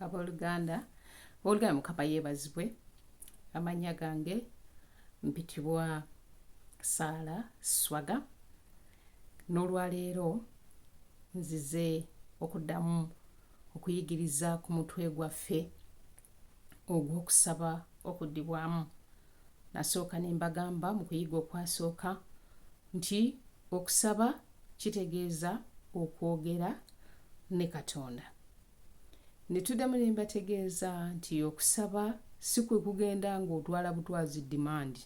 aboluganda oluganda mukama yeebazibwe amannya gange mpitibwa saala swaga n'olwaleero nzize okuddamu okuyigiriza ku mutwe gwaffe ogw'okusaba okuddibwamu nasooka ne mbagamba mu kuyiga okwasooka Nti okusaba kitegeeza okwogera ne Katonda. Ne tuddamu ne mbategeeza nti okusaba si kwe kugenda ng'otwala butwazi demand.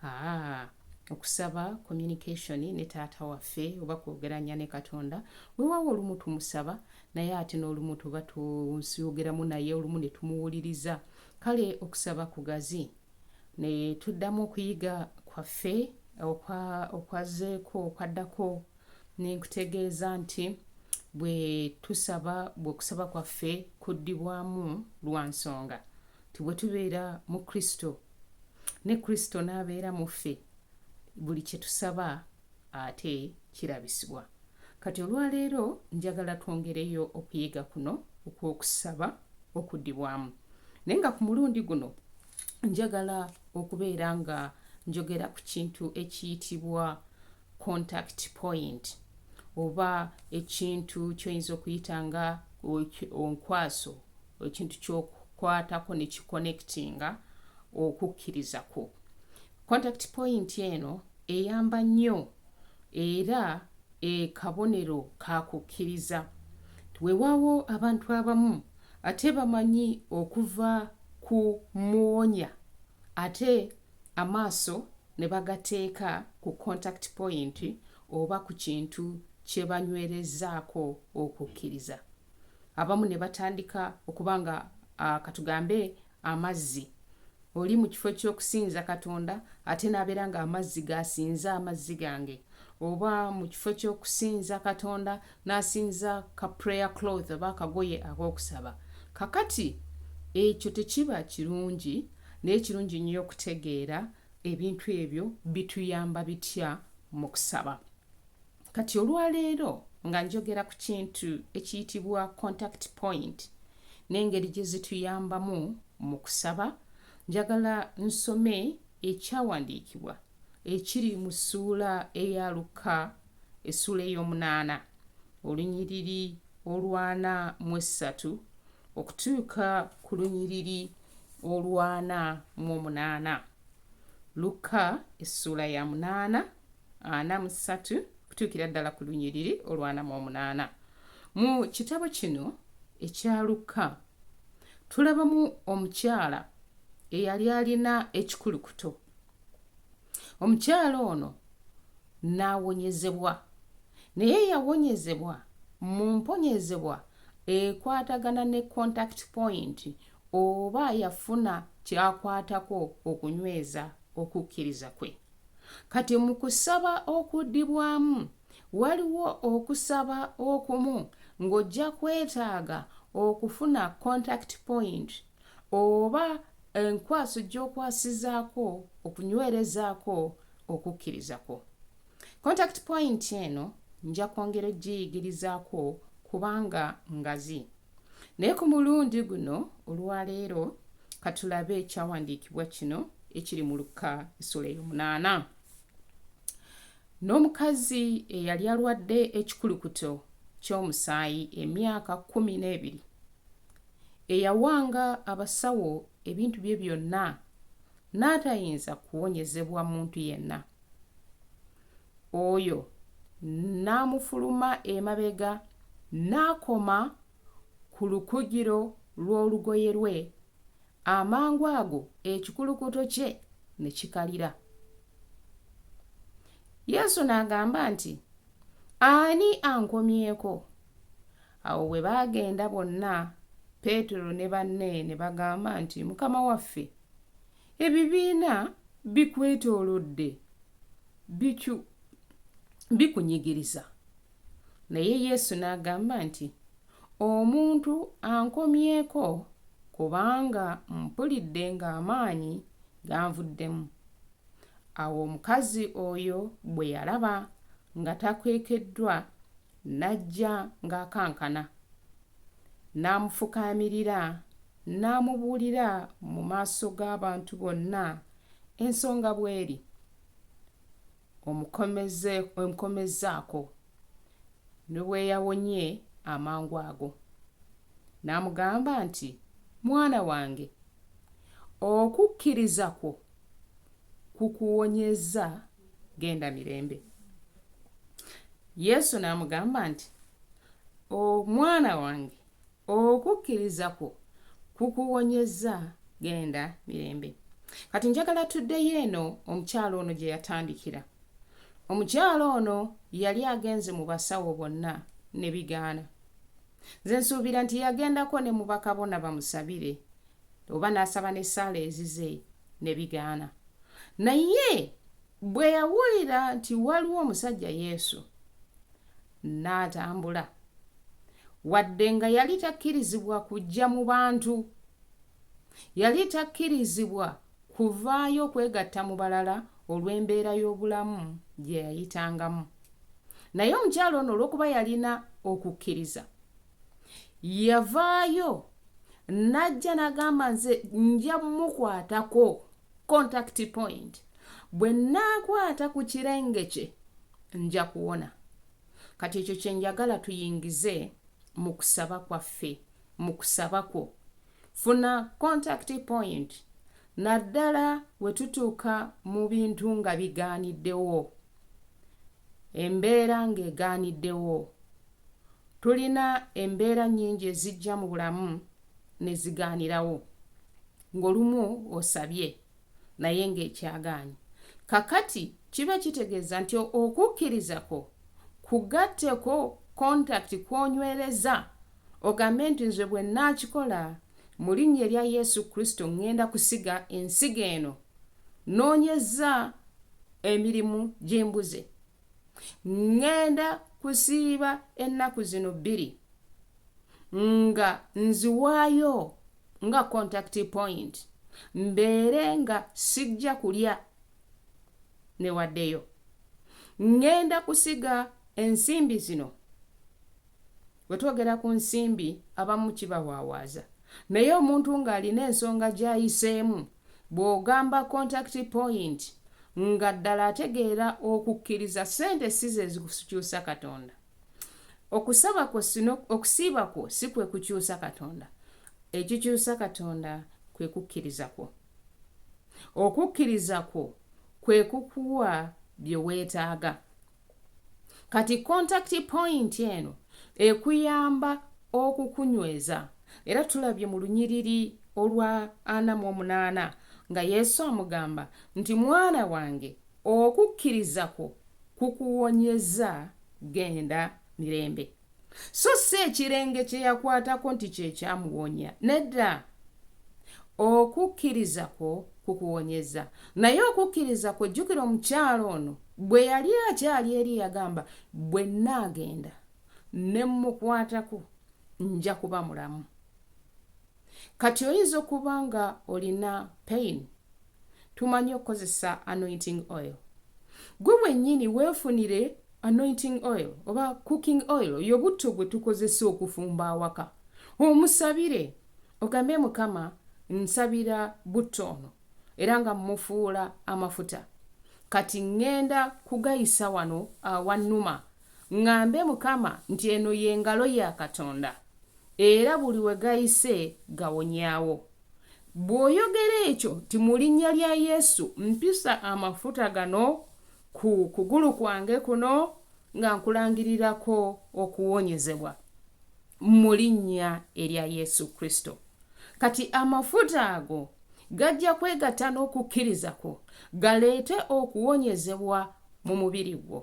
Haa, okusaba communication ne Taata waffe oba kwogeranya ne Katonda. Weewaawo olumu tumusaba naye ate n'olumu tuba tusyogeramu naye olumu ne tumuwuliriza. Kale okusaba kugazi. ne tuddamu okuyiga kwaffe okwazzeeko okwaddako ne nkutegeeza nti bwe tusaba bwe okusaba kwaffe kuddibwamu lwa nsonga nti bwe tubeera mu kristo ne kristo n'abeera mu ffe buli kye tusaba ate kirabisibwa. Kati olwaleero njagala twongereyo okuyiga kuno okw'okusaba okuddibwamu, naye nga ku mulundi guno njagala okubeera nga njogera ku kintu ekiyitibwa contact point oba ekintu kyoyinza okuyita nga onkwaso ekintu kyokukwatako nekikonectinga okukkiriza kwo Contact point eno eyamba nnyo era ekabonero kakukkiriza. Wewaawo abantu abamu ate bamanyi okuva ku muwonya ate amaaso ne bagateeka ku contact point oba ku kintu kye banywerezaako okukkiriza. Abamu ne batandika okuba nga katugambe amazzi oli mu kifo ky'okusinza katonda ate n'abeera ng'amazzi g'asinza amazzi gange oba mu kifo ky'okusinza katonda n'asinza ka prayer cloth oba akagoye ak'okusaba kakati ekyo tekiba kirungi naye kirungi nnyo okutegeera ebintu ebyo bituyamba bitya mu kusaba kati olwaleero nga njogera ku kintu ekiyitibwa contact point n'engeri gye zituyambamu mu kusaba njagala nsome ekyawandiikibwa ekiri mu ssuula eya lukka essuula ey'omunaana olunyiriri olwana mu essatu okutuuka ku lunyiriri olwana mu omunaana lukka essuula ya munaana ana mu ssatu okutuukira ddala ku lunyiriri olwana mu omunaana mu kitabo kino ekya lukka tulabamu omukyala eyali alina ekikulukuto omukyala ono n'awonyezebwa naye yawonyezebwa mu mponyezebwa ekwatagana ne contact point oba yafuna kyakwatako okunyweza okukkiriza kwe Kati mu kusaba okuddibwamu, waliwo okusaba okumu ng'ojja kwetaaga okufuna contact point oba enkwaso gy'okwasizaako okunywerezaako okukkiriza kwo. Contact point eno nja kwongera okugiyigirizaako kubanga ngazi. naye ku mulundi guno olwaleero katulabe ekyawandiikibwa kino ekiri mu lukka esula ey'omunaana n'omukazi eyali alwadde ekikulukuto ky'omusaayi emyaka kumi n'ebiri eyawanga abasawo ebintu bye byonna n'atayinza kuwonyezebwa muntu yenna Oyo n'amufuluma emabega n'akoma ku lukugiro lw'olugoye lwe, amangu ago ekikulukuto kye ne kikalira. Yesu n'agamba nti, Ani ankomyeko? Awo bwe baagenda bonna, Peetero ne banne ne bagamba nti, Mukama waffe, Ebibiina bikwetoolodde biku, bikunyigiriza. Naye Yesu n'agamba nti, Omuntu ankomyeko kubanga mpulidde ng'amaanyi ganvuddemu. Awo omukazi oyo bwe yalaba nga takwekeddwa, n'ajja ng'akankana, n'amufukaamirira N'amubuulira mu maaso g'abantu bonna ensonga bw'eri. Omukomeze, omukomezzaako ne bwe yawonye amangu ago. N'amugamba nti, Mwana wange, okukkiriza kwo kukuwonyezza, genda mirembe. Yesu n'amugamba nti, O mwana wange, Okukkiriza kwo kukuwonyezza. Genda mirembe. Kati njagala tuddeyo eno omukyala ono gye yatandikira. Omukyala ono yali agenze mu basawo bonna ne bigaana. Nze nsuubira nti yagendako ne mu bakabona bamusabire, oba n'asaba n'essaala ezize ne bigaana. Naye bwe yawulira nti waliwo omusajja Yesu, N'atambula. Wadde nga yali takkirizibwa kujja mu bantu, yali takkirizibwa kuvaayo kwegatta mu balala olw'embeera y'obulamu gye yayitangamu. Naye omukyala ono olw'okuba yalina okukkiriza, yavaayo n'ajja n'agamba, Nze nja mukwatako. contact point bwe nnaakwata ku kirenge kye nja kuwona kati ekyo kye njagala tuyingize mu kusaba kwaffe mu kusaba kwo funa contact point naddala we tutuuka mu bintu nga bigaaniddewo embeera ng'egaaniddewo Tulina embeera nnyingi ezijja mu bulamu ne zigaanirawo, ng'olumu osabye naye ng'ekyagaanyi. Kaakati kiba kitegeeza nti okukkiriza kwo kugatteko contact kw'onywereza, ogambe nti, Nze bwe nnaakikola, mu Linnya erya Yesu Kristo, ŋŋenda kusiga ensigo eno. Nnoonyezza emirimu gye mbuze. ŋŋenda kusiiba ennaku zino bbiri nga nziwaayo nga contact point mbeere nga sijja kulya newaddeyo ŋŋenda kusiga ensimbi zino Bwe twogera ku nsimbi abamu kibawaawaaza naye omuntu ng'alina ensonga gy'ayiseemu bw'ogamba contact point nga ddala ategeera okukkiriza ssente si ze zikukyusa Katonda. Okusaba kwo sino okusiiba kwo si kwe kukyusa Katonda. Ekikyusa Katonda kwe kukkiriza kwo. Okukkiriza kwo kwe kukuwa bye weetaaga. kati contact point eno ekuyamba okukunyweza era tulabye mu lunyiriri olwa ana mu omunaana nga yesu amugamba nti mwana wange okukkiriza kwo kukuwonyeza genda mirembe so si ekirenge kye yakwatako nti kye kyamuwonya. Nedda, okukkiriza kwo kukuwonyezza. Naye okukkiriza kwo, jjukira omukyala ono bwe yali akyali eri yagamba, bwe nnaagenda ne mmukwatako nja kuba mulamu. Kati oyinza okuba nga olina pain. Tumanyi okukozesa anointing oil. Gwe wenyini wefunire anointing oil oba cooking oil oyo butto gwe tukozesa okufumba awaka. Omusabire ogambe mukama nsabira butto ono era nga mufuula amafuta. Kati ngenda kugayisa wano awanuma. Ŋŋambe Mukama nti eno ye ngalo ya Katonda, era buli we gayise gawonyaawo. Bw'oyogera ekyo nti mu linnya lya Yesu mpisa amafuta gano ku kugulu kwange kuno nga nkulangirirako okuwonyezebwa, mu linnya erya Yesu Kristo. Kati amafuta ago gajja kwegatta n'okukkiriza kwo galeete okuwonyezebwa mu mubiri gwo.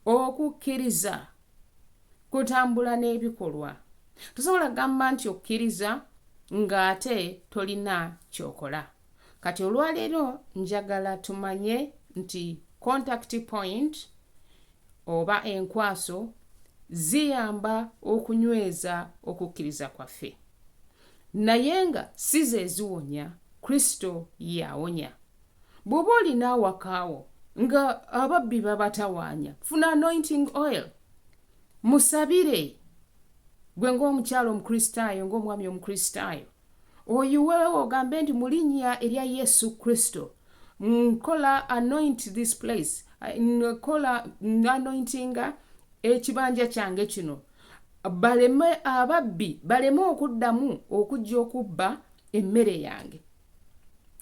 okukkiriza kutambula n'ebikolwa tosobola kugamba nti okkiriza ng'ate tolina kyokola kati olwaleero njagala tumanye nti contact point oba enkwaso ziyamba okunyweza okukkiriza kwaffe naye nga si ze ziwonya kristo yawonya bw'oba olina awakaawo nga ababbi babatawaanya funa anointing oil musabire gwe ng'omukyalo omukristaayo ng'omwami omukristaayo oyiweewo ogambe nti mu linnya erya yesu kristo nkola anoint this place nkola anointinga ekibanja kyange kino baleme ababbi baleme okuddamu okujja okubba emmere yange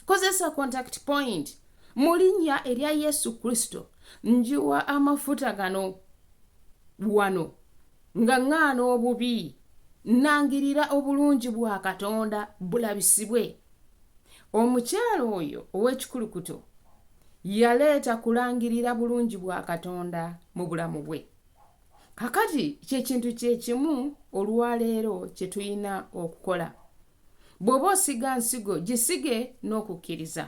kozesa contact point mu linnya erya yesu kristo njiwa amafuta gano wano nga ŋŋaana obubi nnangirira obulungi bwa katonda bulabisibwe omukyalo oyo ow'ekikulukuto yaleeta kulangirira bulungi bwa katonda mu bulamu bwe kakati kyekintu kyekimu olwaleero kye tulina okukola bw'oba osiga nsigo gisige n'okukkiriza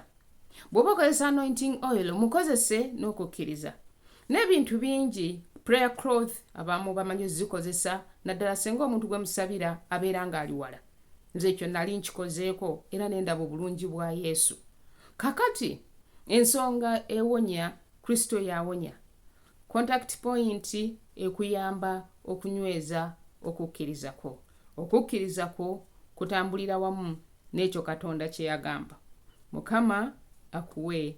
bw'oba okozesa anointing oil mukozese n'okukkiriza n'ebintu bingi prayer cloth abamu bamanyi ozikozesa naddala singa omuntu gwe musabira abeera ng'ali wala nze ekyo nali nkikozeeko era nendaba obulungi bwa yesu kakati ensonga ewonya kristo yawonya Contact point ekuyamba okunyweza okukkiriza kwo. Okukkiriza kwo kutambulira wamu n'ekyo Katonda kye yagamba. Mukama akuwe.